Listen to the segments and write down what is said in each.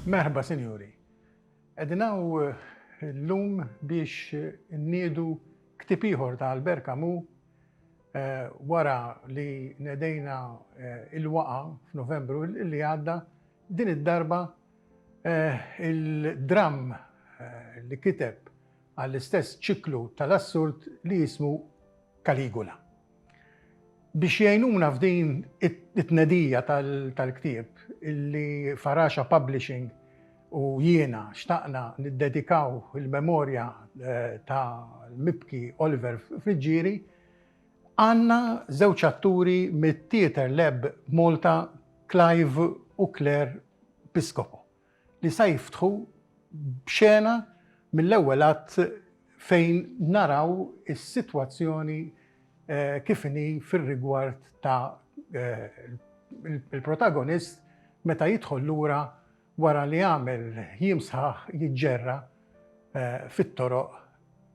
Merħba, sinjuri. Edinaw eh, l-lum biex nniedu ktib ieħor ta' Albert Camus eh, wara li nedejna eh, il-waqa f'Novembru li għadda din id-darba il-dram li kiteb għall-istess ċiklu tal-assurt li jismu Caligula. Biex jgħinuna f'din it-tnedija tal-ktieb li Faraxa Publishing u jiena xtaqna niddedikaw il-memorja tal-mibki Oliver Friggieri, għandna żewġ atturi mit-Theatre Lab Malta Clive u Claire Piscopo. li sa jiftħu b'xena mill-ewwel att fejn naraw is-sitwazzjoni kif inhi fir-rigward ta' l-protagonist meta jidħol lura wara li għamel jiem sħaħ jiġġerra fit-toroq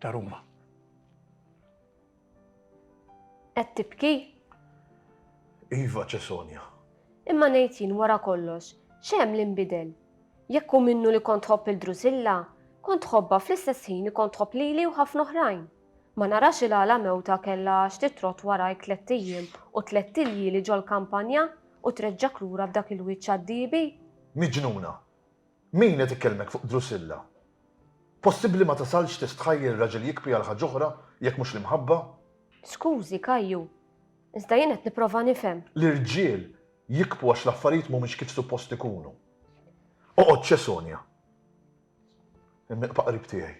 ta' Ruma. Qed tibki? Iva, Cesonja. Imma ngħid jien wara kollox, x'hemm li nbidel? Jekk hu minnu li kont tħobb lil Drusilla, kont tħobbha fl-istess ħin li kont tħobb lili u ħafna oħrajn. Ma narax il-għala mewta kellha għax titrott warajk tlett ijiem u tlett iljieli ġol-kampanja u treġġgħek lura b'dak il-wiċċ għad-diebi? Miġnuna! Min qed ikellmek fuq Drusilla? Possibbli ma tasalx tistħajjel raġel jikpi għal ħaġ'oħra jekk mhux l-imħabba? Skużi, Kajju. Iżda jien qed nipprova nifhem. L-irġiel jikpu għax l-affarijiet mhumiex kif suppost ikunu. Oqgħod ċe Sonja. Imma iqpa' qrib tiegħi.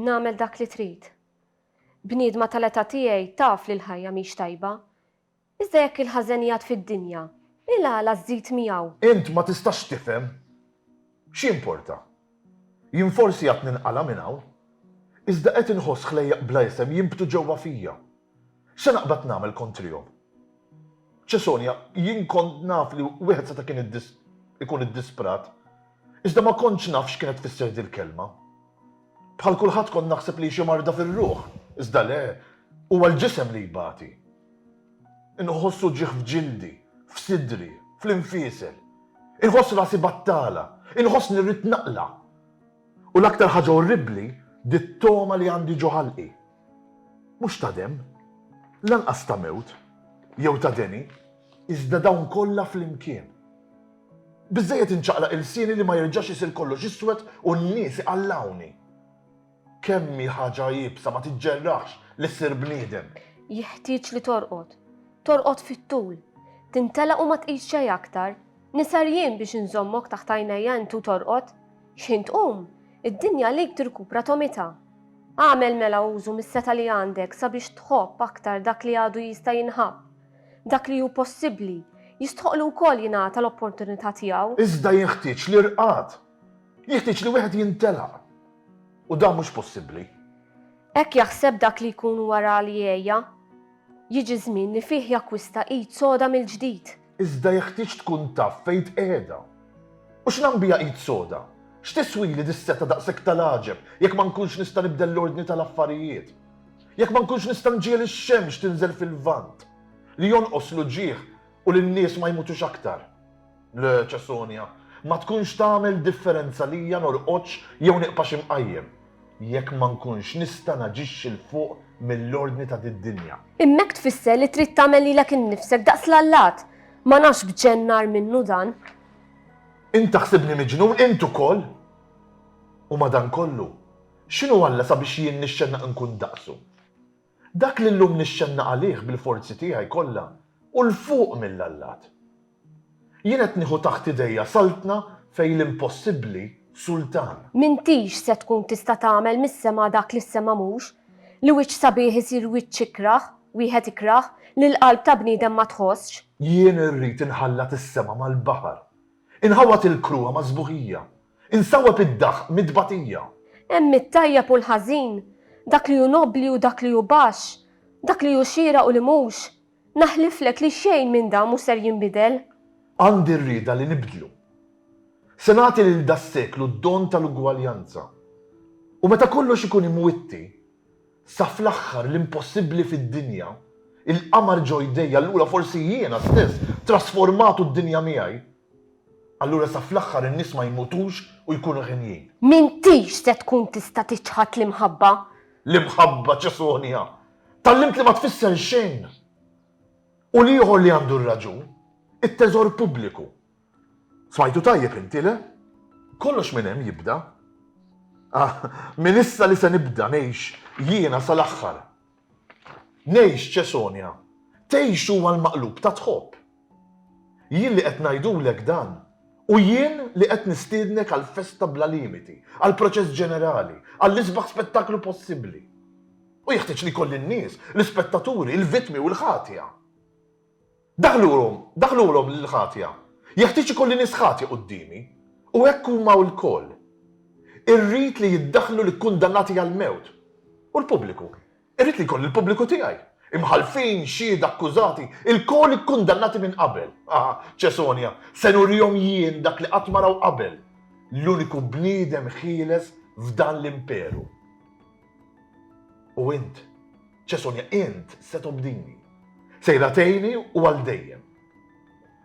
Nagħmel dak li trid. Bniedma tal-età tiegħi taf li l-ħajja mhix tajba. Iżda jekk il-ħażen jgħadd fid-dinja, il-għala żżid miegħu? Int ma tistax tifhem? X'jimporta? Jien forsi għad ninqala' minn hawn, iżda qed inħoss ħlejjaq bla isem jinbtu ġewwa fija. Se naqbad nagħmel kontrihom? Cesonia, Jien kont naf li wieħed seta' kien ikun iddisprat, iżda ma kontx naf x'kienet tfisser dil-kelma. Bħal kulħadd kont naħseb li hi xi marda fir-ruħ, iżda le, huwa l-ġisem li jbati. Inħoss uġigħ f'ġildi, f'sidri, fl-infiesel. Inħoss rasi battala, inħossni rrid naqla'. U l-aktar ħaġa orribbli, dit-togħma li għandi ġo ħalqi. Mhux ta' demm, lanqas ta' mewt, jew ta' deni, iżda dawn kollha flimkien. Biżżejjed inċaqlaq ilsieni li ma jerġax isir kollox iswed u n-nies iqallgħuni. Kemm hi ħaġa iebsa ma tiġġerraħx li ssir bniedem! Jeħtieġ li torqod. Torqod fit-tul. Tintelaq u ma tqis xejn aktar. Nisher jien biex inżommok taħt għajnejja int u torqod. X'ħin tqum, id-dinja għalik tirkupra tomitha. Agħmel mela użu mis-setgħa li għandek sabiex tħobb aktar dak li għadu jista' jinħabb, Dak li hu possibbli, jistħoqqlu wkoll jingħata l-opportunità tiegħu. Iżda jinħtieġ l-irqad. Jinħtieġ li wieħed jintelaq. U dan mhux possibbli. Hekk jaħseb dak li jkun wara li għeja. Jiġi żmien li fih jakkwista id soda mill-ġdid. Iżda jeħtieġ tkun taf fejn tqiegħda. U x'nagħm biha id soda? X'tiswili dis-setgħa daqshekk tal-għaġeb jekk ma nkunx nista' nibdel l-ordni tal-affarijiet? Jekk ma nkunx nista' nġiegħel ix-xemx tinżel fil-Lvant, li jonqos l-uġigħ u li n-nies ma jmutux aktar, l-Ċesonja ma tkunx tagħmel differenza lija norqodx jew niqpax imqajjem, jekk ma nkunx nista' naġixxi 'l fuq mill-ordni ta' did-dinja. Hemmhekk tfisser li trid tagħmel lilek innifsek daqs l-allat. Ma nafx b'x'hemm ngħar minnu dan. Int taħsibni miġnun, int ukoll? U madankollu, X'inhu Alla sabiex jien nixxennaq inkun daqsu? Dak li llum nixxennaq għalih bil-forzi tiegħi kollha hu 'l fuq mill-allat. Jien qed nieħu taħt idejja saltna fejn l-impossibbli sultan. M'intix se tkun tista' tagħmel mis-sema dak li s-sema mhux, li wiċċ sabiħ isir wiċċ ikrah, wieħed ikrah, li l-qalb ta' bniedem ma tħossx. Jien irrid inħallat is-sema mal-baħar, inħawwad il-kruha mas-sbuħija, Insawweb id-daħq mit-tbatija. Hemm it-tajjeb u l-ħażin, dak li hu nobbli u dak li hu baxx, dak li hu xieraq u li mhux. Naħliflek li xejn minn dan mhux ser jinbidel. Għandi r-rieda li nibdlu. Se nagħti lil das-seklu d-don tal-ugwaljanza. U meta kollox ikun imwitti, sa fl-aħħar l-impossibbli fid-dinja, il-qamar ġo jdejja, allura forsi jiena stess, trasformat u d-dinja miegħi, Allura sa fl-aħħar in-nies ma jmutux u jkunu għenjin. M'intix se tkun tista' tiċħad l-imħabba. L-imħabba Ċesonja! Tgħallimt li ma tfisser xejn! U l-ieħor li għandu r-raġun, it-teżor pubbliku. Smajtu tajjeb inti, le? Kollox minn hemm jibda. Ah, minn issa li se nibda ngħix jiena sa l-aħħar. Ngħix, Ċesonja! Tgħix huwa l-maqlub ta' tħobb. Jien li qed ngħidulek dan, u jien li qed nistiednek għal festa bla limiti, għal proċess ġenerali, għall-isbaħ spettaklu possibbli. U jeħtieġ li jkolli n-nies, l-ispettaturi, il-vittmi u l-ħatja. Daħħlulhom, daħħlulhom lill-ħatja. Jeħtieġ ikolli nies ħatja quddiemi. U hekk huma lkoll. Irrid li jiddaħħlu l-ikkundannati għall-mewt. U l-pubbliku? Irrid li jkolli l-pubbliku tiegħi. Imħallfin, xhieda, akkużati, ilkoll ikkundannati minn qabel. Ah, Ċesonja, se nurihom jien dak li qatt ma raw qabel, l-uniku bniedem ħieles f'dan l-imperu. U int? Ċe Sonja, int se tobdini. Sejra tgħinni u għal dejjem.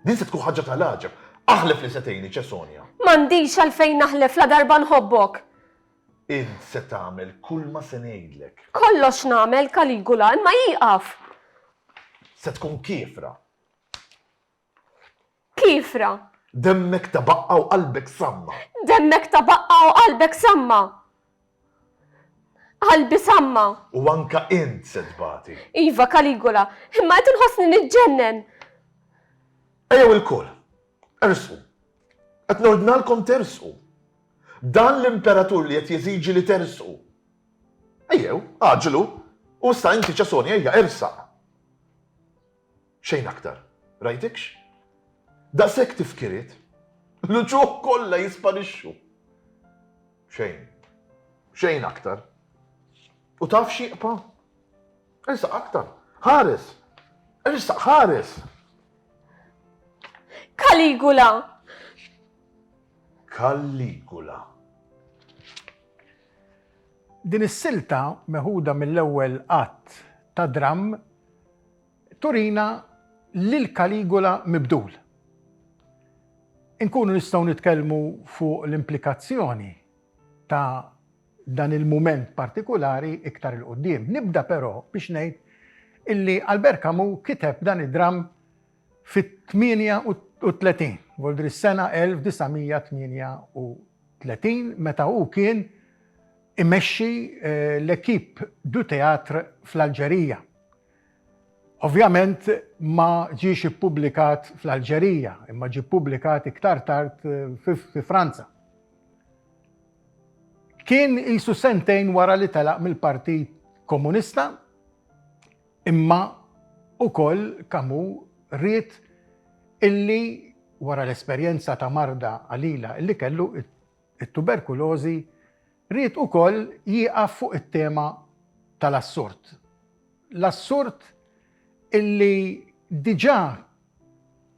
Din se tkun ħaġa tal-għaġeb. Aħlef li se tgħinni, Ċe Sonja. M'għandix għalfejn naħlef ladarba nħobbok. Int se tagħmel kulma se ngħidlek. Kollox nagħmel, Kaligula, imma ieqaf! Se tkun kiefra. Kiefra. Demmek ta' baqqa u qalbek samma. Demmek ta' baqqa u qalbek samma. Qalbi samma. U anka int se tbati. Iva, Caligula, imma qed inħossni niġġennen! Ejjew ilkoll, ersqu. Qed nordnalkom tersqu. Dan l-imperatur li qed jeżiġi li tersqu. Ejjew, għaġġlu. U issa inti, Ċesoni, ejja, ersaq. Xejn aktar. Rajtikx? Daqshekk tifkiriet, l-uċuħ kollha jisparixxu. Xejn. Xejn aktar. U taf x'jibqa'? Ersaq aktar. Ħares! Ersaq ħares! Caligula! Caligula. Din is-silta meħuda mill-ewwel att ta' dramm turina lil Caligula mibdul. Inkunu nistgħu nitkellmu fuq l-implikazzjoni ta' dan il-mument partikulari iktar 'il quddiem. Nibda però biex ngħid illi Albert Camus kiteb dan id-dramm Fit-38, vuol dire s-sena 1938, meta hu kien imexxi l-Equipe du Théâtre fl-Alġerija. Ovvjament ma ġiex ippubblikat fl-Alġerija, imma ġie ppubblikat iktar tard fi Franza. Kien qisu sentejn wara li telaq mill-Partit Komunista. Imma ukoll Camus ried illi wara l-esperjenza ta' marda qalila illi kellu, it-tuberkulożi, ried ukoll jieqaf fuq it-tema tal-assurd. L-assurd illi diġà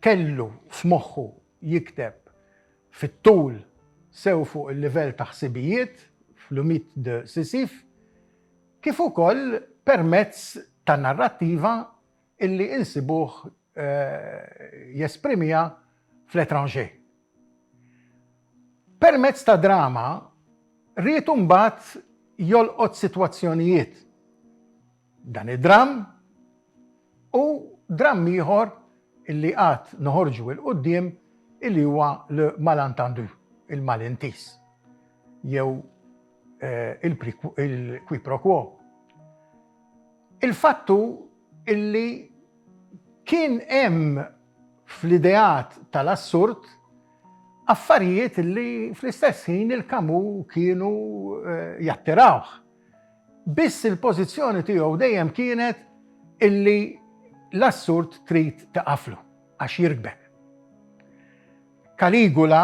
kellu f'moħħu jikteb fit-tul sew fuq il-livell ta' ħsibijiet fl-Mythe de Sisyphe, kif ukoll permezz ta' narrattiva illi insibuh jesprimiha f'L'Étranger. Permezz ta' drama ried imbagħad jolqot sitwazzjonijiet, dan id-dramm u dramm ieħor illi għad noħorġu 'il quddiem illi huwa Le Malentendu, Il-Malintiż, jew il-qui pro quo. Il-fattu illi kien hemm fl-ideat tal-assurd affarijiet illi fl-istess ħin il-Kamu kienu jattirawh. Biss il-pożizzjoni tiegħu dejjem kienet illi l-assurd trid tieqaflu għax jirkbek. Caligula,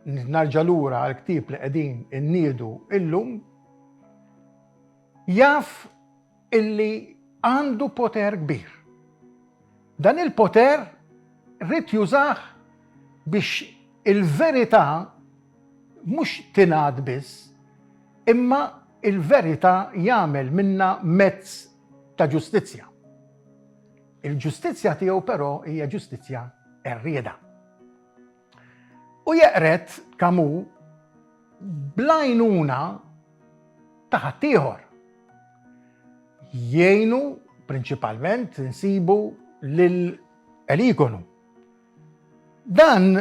nerġa' lura għall-ktieb li qegħdin inniedu illum, jaf illi għandu poter kbir. Dan il-poter ried jużah biex il-verità mhux tingħad biss, imma l-verità jagħmel minnha mezz ta' ġustizzja. Il-ġustizzja tiegħu però hija ġustizzja qerrieda. U jeqred Camus bl-għajnuna ta' ħaddieħor. Jgħinu prinċipalment insibu lil Eligonu. Dan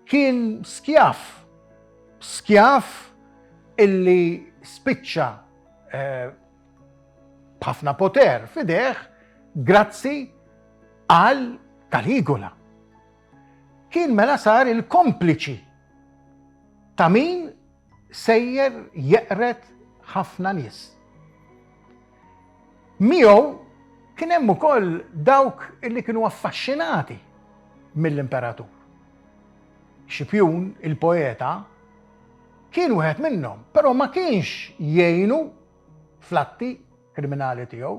kien skjav, skjav illi spiċċa b'ħafna poter f'idejh grazzi għal Caligula. Kien mela sar il-kompliċi ta' min sejjer jeqred ħafna nies. Miegħu kien hemm ukoll dawk li kienu affaxxinati mill-imperatur. Xipjun, il-poeta, kien wieħed minnhom, però ma kienx jgħinu flatti kriminali tiegħu.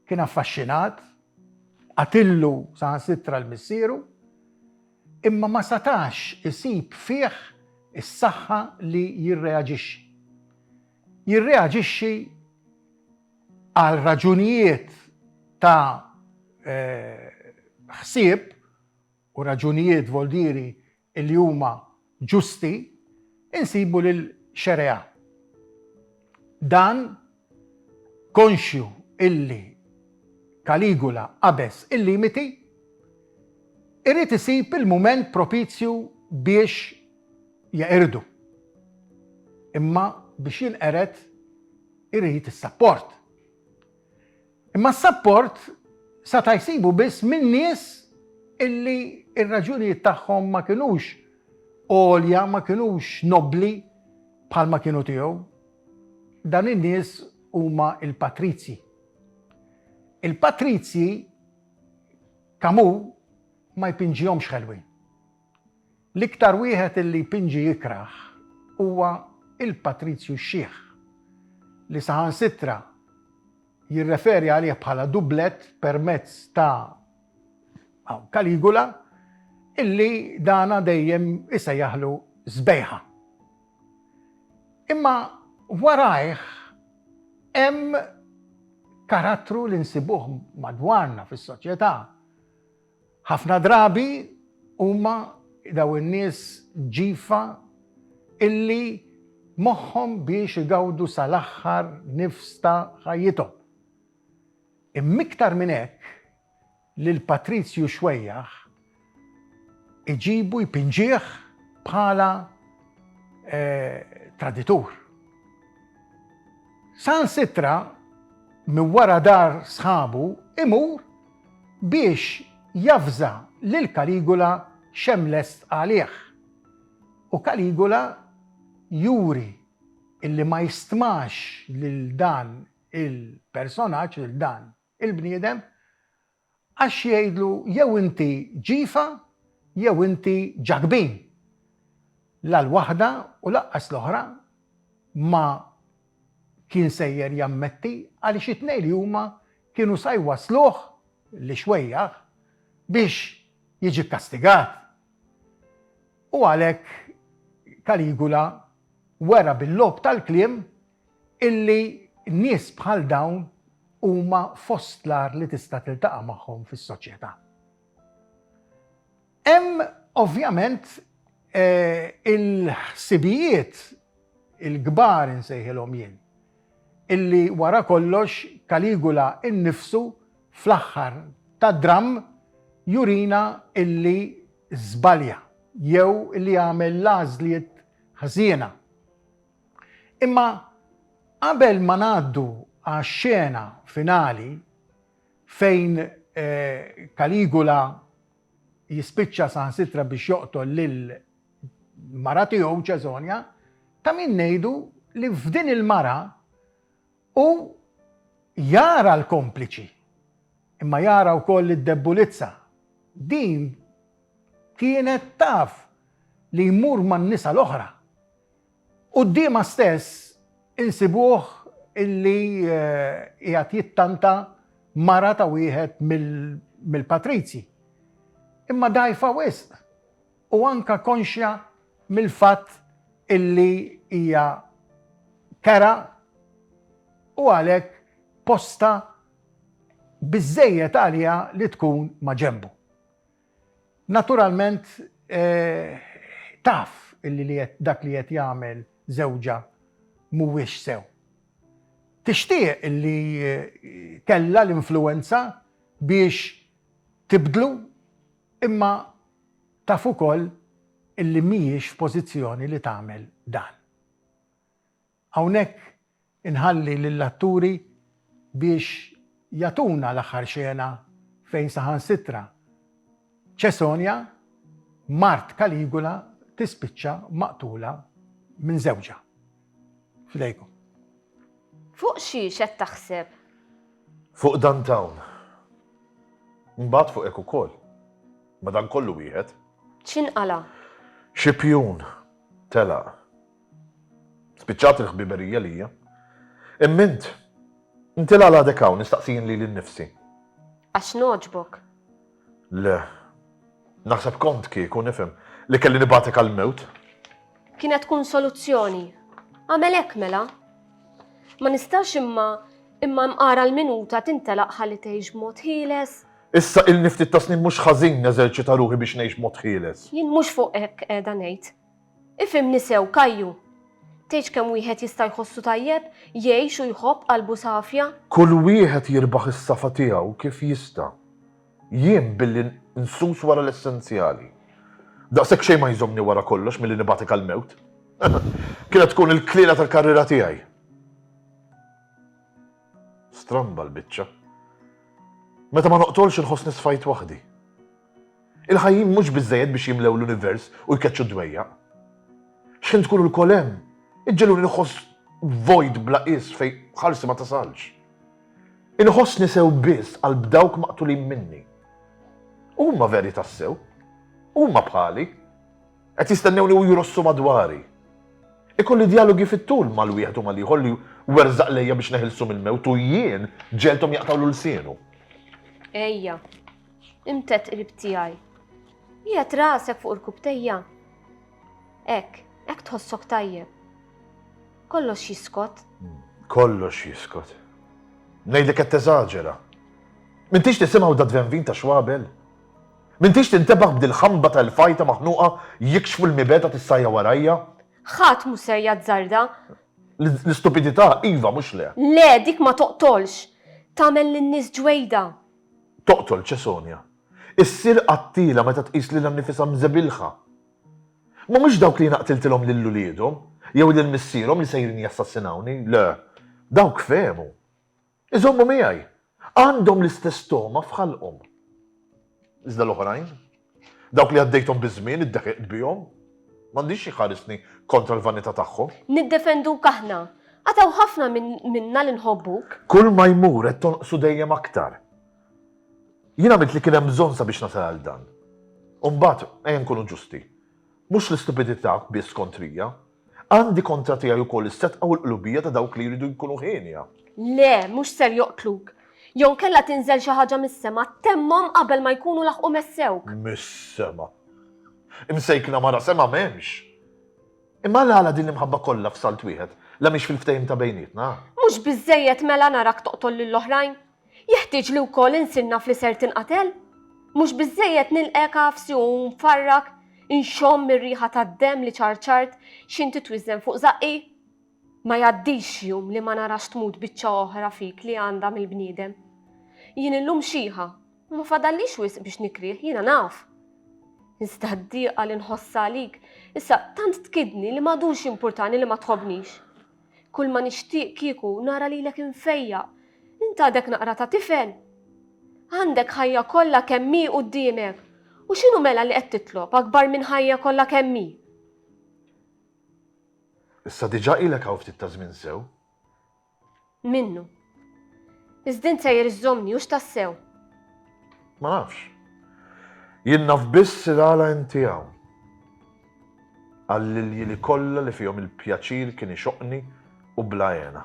Kien affaxxinat, qatillu saħansitra l-missieru, imma ma setax isib fih is-saħħa li jirreaġixxi. Jirreaġixxi għal raġunijiet ta' ħsieb u raġunijiet, vuol dire, li huma ġusti, insibu lil Xereá. Dan, konxju illi Caligula qabeż il-limiti, irid isib il-mument propizju biex jeqirdu. Imma biex jinqered irid is-sapport. Imma s-sapport sata' jsibu biss minn nies illi r-raġunijiet tagħhom ma kinux għolja, ma kinux nobbli bħalma kienu tiegħu. Dan in-nies huma l-patrizji. Il-patrizji Camus ma jpinġihomx ħelwin. L-iktar wieħed illi jpinġi jikrah huwa il-Patrizju x-Xiħ, li saħansitra jirreferi għalih bħala dublett permezz ta' Kaligula illi dana dejjem isejjaħlu sbejħa. Imma warajh hemm karattru li nsibuh madwarna fis-soċjetà Ħafna drabi huma dawn in-nies ġifa illi moħħhom biex igawdu sal-aħħar nifs ta' ħajjithom. Imm'iktar minn hekk, lil Patrizju Xuejjaħ iġibu jpinġih bħala traditur. Saħansitra minn wara dar sħabu imur biex javża lil Caligula x'hemm lest għalih. U Caligula juri illi ma jistmax lil dan il-personaġġ, lil dan il-bniedem, għax jgħidlu jew inti ġifa jew inti ġakbin. La l-waħda u lanqas l-oħra ma kien sejjer jammetti għaliex it-tnejn li huma kienu sa jwassluh, l-ixwejjaħ, biex jiġi kkastigat. U għalhekk Caligula wera bil-logħob tal-kliem illi nies bħal dawn huma fost l-agħar li tista' tiltaqa' magħhom fis-soċjetà. Hemm ovvjament il-ħsibijiet il-kbar insejħilhom jien, illi wara kollox Caligula innifsu fl-aħħar tad-dramm jurina illi żbalja jew illi għamel l-għażliet ħżiena. Imma qabel ma ngħaddu għax-xena finali fejn Caligula jispiċċa saħansitra biex joqtol lil mara tiegħu Ċesonja, ta' min ngħidu li f'din il-mara u jara l-kompliċi, imma jara wkoll id-debbulizza. Din kienet taf li jmur man-nisa l-oħra. Quddiemha stess insibuh illi qiegħed jittanta mara ta' wieħed mill-patrizji, imma dgħajfa wisq u anke konxja mill-fatt illi hija kera u għalhekk postha biżżejjed għaliha li tkun ma' ġenbu. Naturalment taf illi li qed dak li qed jagħmel żewġha mhuwiex sew. Tixtieq illi kellha l-influwenza biex tibdlu imma taf ukoll illi mhijiex f'pożizzjoni li tagħmel dan. Hawnhekk inħalli lill-atturi biex jagħtuna l-aħħar xena fejn saħansitra Ċesonja, mart Kaligula tispiċċa maqtula minn żewġha. F'idejkom. Fuq xi x'qed taħseb? Fuq dan t'hawn. Mbagħad fuq hekk ukoll. Madankollu wieħed. X'inqala'? Xi pjun telaq. Spiċċat il-ħbiberija lija. Imma int, inti l-għala għadek hawn, nistaqsi jien lili nnifsi. Għax nogħġbok. Le. Naħseb kont kieku nifhem li kelli nibgħatek għall-mewt. Kienet tkun soluzzjoni. Għamel hekk mela. Ma nistax imma imma mqara l-minuta tintelaq ħalli tgħix b'mod ħieles. Issa il-niftit ta' snin mhux ħażin neżerċita ruħi biex ngħix mod ħieles. Jien mhux fuq hekk qiegħda ngħid. Ifhimni sew, Kajju! Tgħidx kemm wieħed jista' jħossu tajjeb, jgħix u jħobb qalbu safja? Kull wieħed jirbaħ is-safa tiegħu kif jista'. Jien billi nsus wara l-essenzjali. Daqshekk xejn ma jżommni wara kollox milli nibgħatek għall-mewt. Kienet tkun il-kliela tal-karriera tiegħi. Stramba l-biċċa. Meta ma noqtolx inħossni sfajt waħdi. Il-ħajjin mhux biżżejjed biex jimlew l-univers u jkeċċu d-dwejjaq. X'ħin tkunu lkoll hemm, iġġegħluni nħoss vojt bla qies fejn ħarsi ma tasalx. Inħossni sew biss qalb dawk maqtulin minni. Huma veri tassew. Huma bħali. Qed jistennewni u jrossu madwari. Ikolli djalogi fit-tul mal-wieħed u mal-ieħor li werżaq lejja biex neħilsu mill-mewt u jien ġegħelthom jaqtgħulu lsienu. Ejja. Imtedd qrib tiegħi. Qiegħed rasek fuq irkubtejja. Hekk, hekk tħossok tajjeb. Kollox jiskot. Kollox jiskot. Ngħidlek qed teżaġera. Mintix tisimgħu da dvenvin ta' xwabel? Mintix tintebaħ b'dil ħamba tal-fajta maħnuqa jikxfu l-mibeta tissajja warajja? Ħadd mhu ser jazzarda. L-istupidità iva mhux le. Le, dik ma toqtolx. Tagħmel lin-nies ġwejda. toqtol Ċesonja, issir qattiela meta tqis lilha nnifisha mżebilħa. M'humiex dawk li jiena qtiltilhom lil uliedhom, jew lil missierhom li sejrin jassassinawni, le, dawk fehmu. Iżommu miegħi. Għandhom l-istess togħma f'ħalqhom. Iżda l-oħrajn? Dawk li għaddejthom biż-żmien iddeħiqt bihom. M'għandix xi jħarisni kontra l-vanità tagħhom. Niddefenduk aħna. Għad hawn ħafna minna li nħobbuk. Kulma jmur qed tonqsu dejjem aktar. Jien għamilt li kien hemm bżonn sabiex nasal għal dan. U mbagħad, ejja nkunu ġusti, mhux l-istupidità biss kontrija, Għandi kontra tiegħi wkoll is-setgħa u l-qlubija ta' dawk li jridu jkunu hienja. Le, mhux ser joqtluk. Jew inkella tinżel xi ħaġa mis-sema, temmhom qabel ma jkunu laħqu messewk. Mis-sema! Imsejkna mara sema m'hemmx! Imma għala din l-imħabba kollha f'salt wieħed, la mhix fil-ftehim ta' bejnietna? Mhux biżżejjed mela narak toqtol lill-oħrajn, Jeħtieġ li wkoll insinnaf li ser tinqatel? Mhux biżżejjed nilqgħek għafsi u nfarrak, inxomm ir-riħa tad-demm li ċarċart x'int titwiżżen fuq żaqqi? Ma jgħaddix jum li ma narax tmut biċċa oħra fik li għandha mill-bniedem. Jien illum xiħa u ma fadallix wisq biex nikrieh, jiena naf. Iżda d-dieqa li nħossha għalik issa tant tkidni li m'għadux jimpurtani li ma tħobbnix. Kulma nixtieq kieku nara lilek imfejjaq. Int għadek naqra ta' tifel. Għandek ħajja kollha kemm hi quddiemek. U x'inhu mela li qed titlob akbar minn ħajja kollha kemm hi? Issa diġà ilek hawn ftit ta' żmien sew. Minnu. Iżda int sejjer iżżommni, hux tassew? Ma nafx. Jien naf biss li għala inti hawn. Għall-iljili kollha li fihom il-pjaċir kien ixoqqni u bla hena.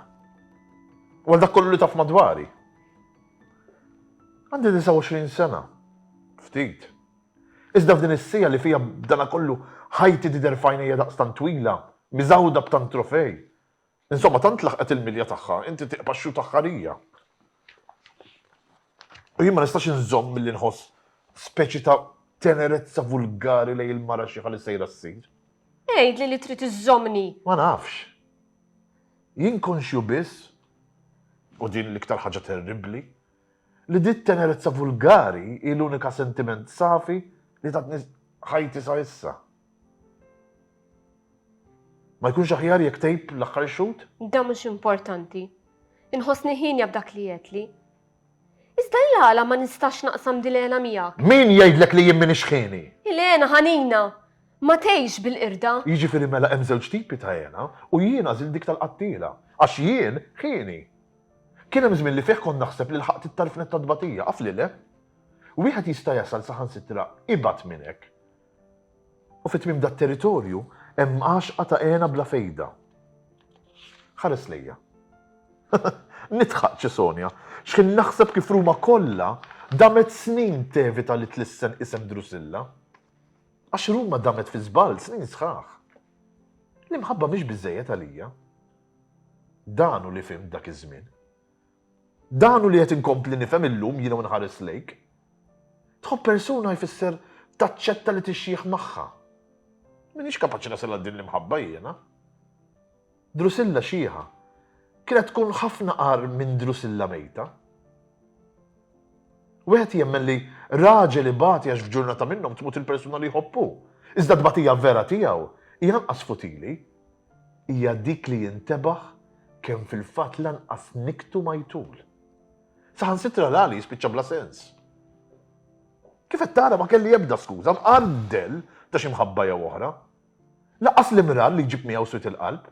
U għal dak kollu li taf madwari. Għandi 29 sena. Ftit. Iżda f'din is-siegħa li fiha b'dana kollu ħajti tidher f'għajnejja daqstant twila, miżgħuda b'tant trofej. Insomma, tant laħqet il-milja tagħha, inti tiqba' x-xhud aħħarija. U jien ma nistax inżomm milli nħoss speċi ta' tenerezza vulgari lejn il-mara xieħa li sejra ssir. Għidli li trid iżżommni. Ma nafx. Jien konxju biss, u din l-iktar ħaġa terribbli, li di t-tenerezza vulgari hi l-unika sentiment safi li tatni ħajti sa issa. Ma jkunx aħjar jekk tgħib l-aħħar ixhud? Da mhux importanti. Inħossni ħienja b'dak li għedtli. Iżda hi għala ma nistax naqsam dil hena miegħek? Min jgħidlek li jien m'iniex ħieni? Il-hena ħanina ma tgħix bil-qirda. Jiġifieri mela hemm żewġ tipi ta' hena u jien għażilt dik tal-qattiela. Għax jien ħieni. Kien hemm żmien li fih kont naħseb li lħaqt it-tarfnet tat-tbatija, af li le? Wieħed jista' jasal saħansitra ibgħad minn hekk. U fi tmiem dat-territorju hemm għaxqa ta' hena bla fejda. Ħares lejja. Nidħaq, ċe Sonja. X'ħin naħseb kif Ruma kollha damet snin tevita li tlissen isem Drusilla. Għax Ruma damet fi żball snin sħaħ. L-imħabba mhix biżejjed għalija. Dan hu li fhimt dak iż-żmien. Dan hu li qed inkompli nifhem illum jiena u nħares lejk. Tħobb persuna jfisser taċċetta li tixjieħ magħha. M'iniex kapaċi nasal għal din l-imħabba jiena. Drusilla xieħa kienet tkun ħafna qar minn Drusilla mejta. Wieħed jemmen li raġel ibati għax f'ġurnata minnhom tmut il-persuna li jħobbu. Iżda tbatija vera tiegħu hija anqas futili hija dik li jintebaħ kemm fil-fatt lanqas niktu ma jtul. Saħansitra l-għali jispiċċa bla sens. Kif qed tara ma kelli ebda skuża mqandel ta' xi mħabba jew oħra. Lanqas l-imrar li jġib miegħu swit il-qalb.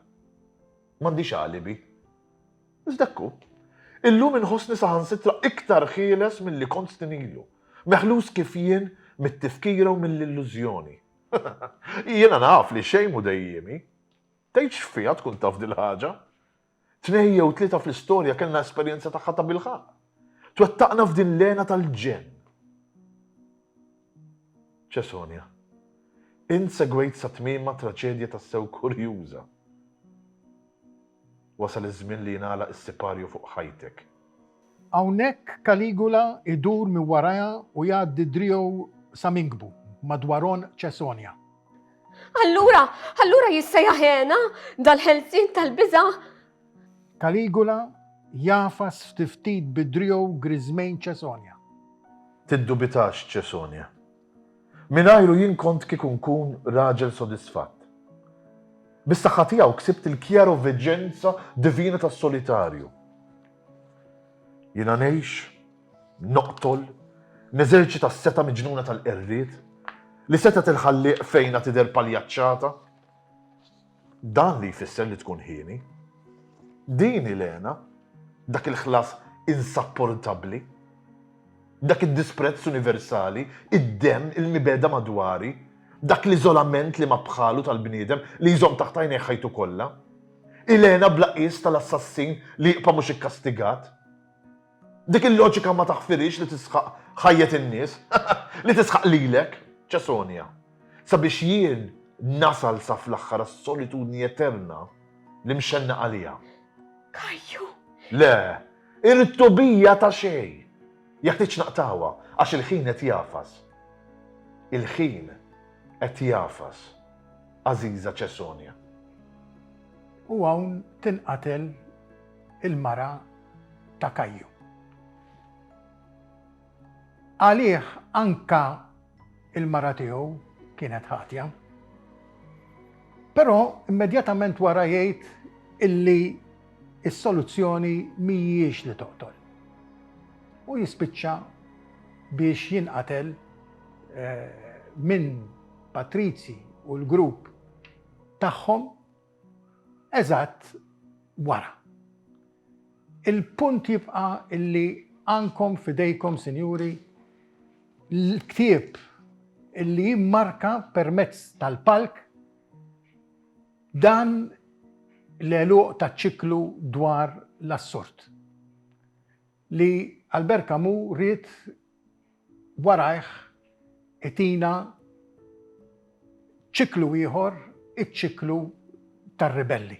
M'għandix alibi. Iżda kku, illum inħossni saħansitra iktar ħieles milli kont snin ilu, meħlus kif jien mit-tifkira u mill-illużjoni. Jiena naf li xejn mhu dejjiemi. Tgħidx x'fiha tkun taf dil-ħaġa. Tnejn jew tlieta fl-istorja kellna esperjenza tagħha tabilħaqq. Twettaqna f'din l-hena tal-ġenn. Cesonja, Int segwejt sa tmiemha traċedja tassew kurjuża. Wasal iż-żmien li jingħalaq is-siparju fuq ħajtek. Hawnhekk Caligula jdur minn warajha u jgħaddi driegħu sa minkbu, madwar għonq Caesonia. Allura, allura jissejjaħ hena dal-ħelsien tal-biża'? Caligula jagħfas ftit ftit bi driegħu griżmejn Caesonia. Tiddubitax, Caesonia. Mingħajru jien kont kieku nkun raġel sodisfatt. Bis-saħħa tiegħu ksibt il-kjaroveġenza divina tas-solitarju. Jiena ngħix, noqtol, neżerċita s-setgħa miġnuna tal-qerried, li setgħet il-Ħallieq fejna tidher paljaċċata. Dan li jfisser li tkun hieni. Din hi l-hena, dak il-ħlas insapportabbli, dak id-disprezz universali, id-demm, il-mibegħda madwari, dak l-iżolament li ma bħalu tal-bniedem li jżomm taħt għajnejh ħajtu kollha. Hi l-hena bla qies tal-assassin li jibqa' mhux ikkastigat. Dik il-loġika ma taħfirix li tisħaq ħajjet in-nies, li tisħaq lilek, Ċesonja, sabiex jien nasal sa fl-aħħar għas-solitudni eterna li mxennaq għaliha. Kajju! Le, irrid tobija ta' xejn. Jeħtieġ naqtawha għax il-ħin qed jafas. Il-ħin qed jafas, għażiża Ċesonja. U hawn tinqatel il-mara ta' Kajju. Għalih anka il-mara tiegħu kienet ħatja. Però immedjatament wara jgħid illi is-soluzzjoni mhijiex li toqtol. U jispiċċa biex jinqatel eh, minn Patrizzi u l-grupp tagħhom Eżatt wara. Il-punt jibqa' illi għandkom f'idejkom, sinjuri, l-ktieb illi jimmarka permezz tal-palk dan l-għeluq taċ-ċiklu dwar l-assurd. li Albert Camus ried warajh itina ċiklu ieħor, iċ-ċiklu tar-ribelli,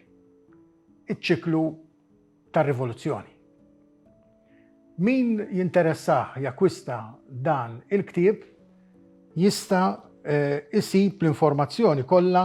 iċ-ċiklu tar-rivoluzzjoni. Min jinteressah jakkwista dan il-ktieb jista' jsib l-informazzjoni kollha